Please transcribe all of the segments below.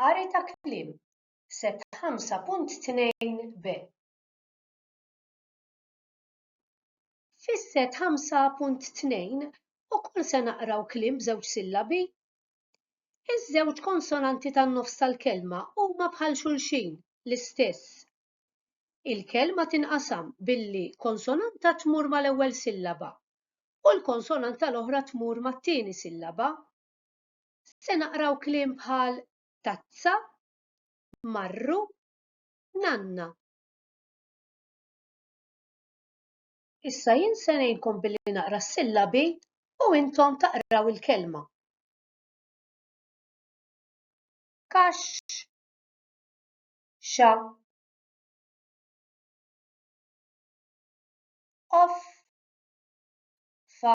Qari ta' kliem, Set 5.2b. Fis-set 5.2 ukoll se naqraw kliem b'żewġ sillabi. Iż-żewġ konsonanti tan-nofs tal-kelma huma bħal xulxin, l-istess. Il-kelma tinqasam billi konsonanta tmur mal-ewwel sillaba u l-konsonanta l-oħra tmur mat-tieni sillaba. se naqraw kliem bħal tazza, marru, nanna. Issa jien se ngħinkom billi naqra s-sillabi u intom taqraw il-kelma. Kax, xa, of, fa,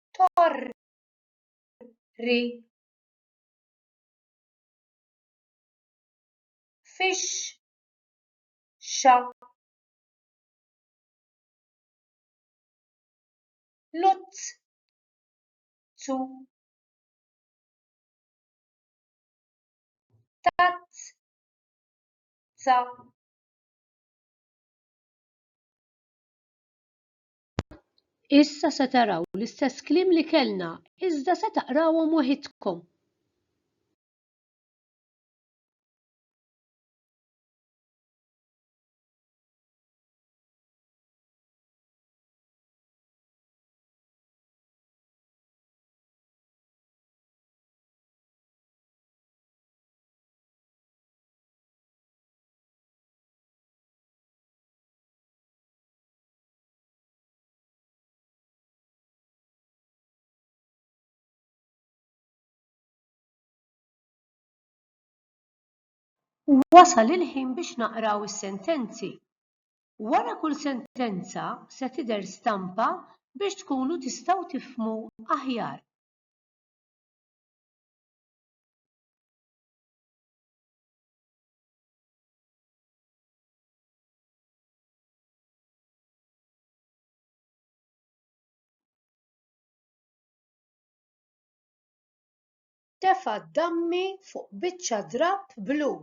torri fix-xa l-uċċu tazza. Issa se taraw l-istess kliem li kellna, iżda se taqrawhom waħidkom. Wasal il-ħin biex naqraw is-sentenzi. Wara kull sentenza se tidher stampa biex tkunu tistgħu tifhmu aħjar. tefa' d-dammi fuq biċċa drapp blu.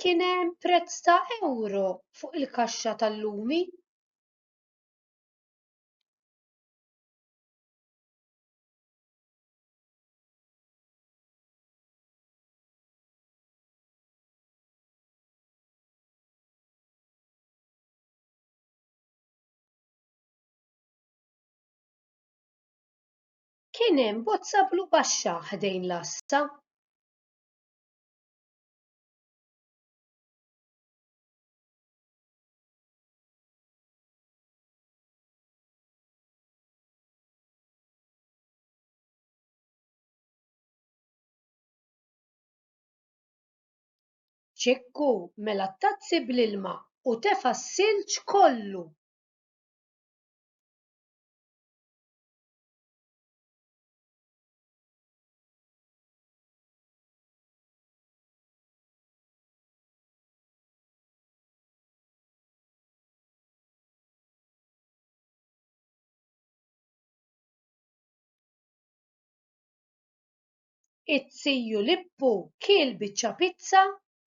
kien hemm prezz ta' ewro fuq il-kaxxa tal-lumi. kien hemm bozza blu baxxa ħdejn l-għassa. Ċikku mela t-tazzi bl-ilma u tefa' s-silġ kollu. It-Ziju Lippu kiel biċċa pizza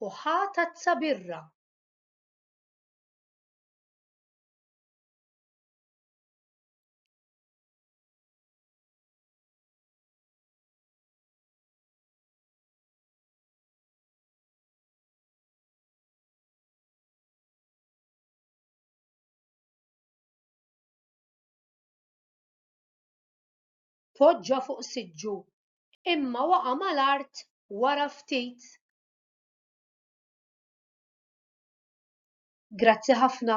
u ħa tazza birra. poġġa fuq siġġu, imma waqa' mal-art wara ftit. Grazzi ħafna.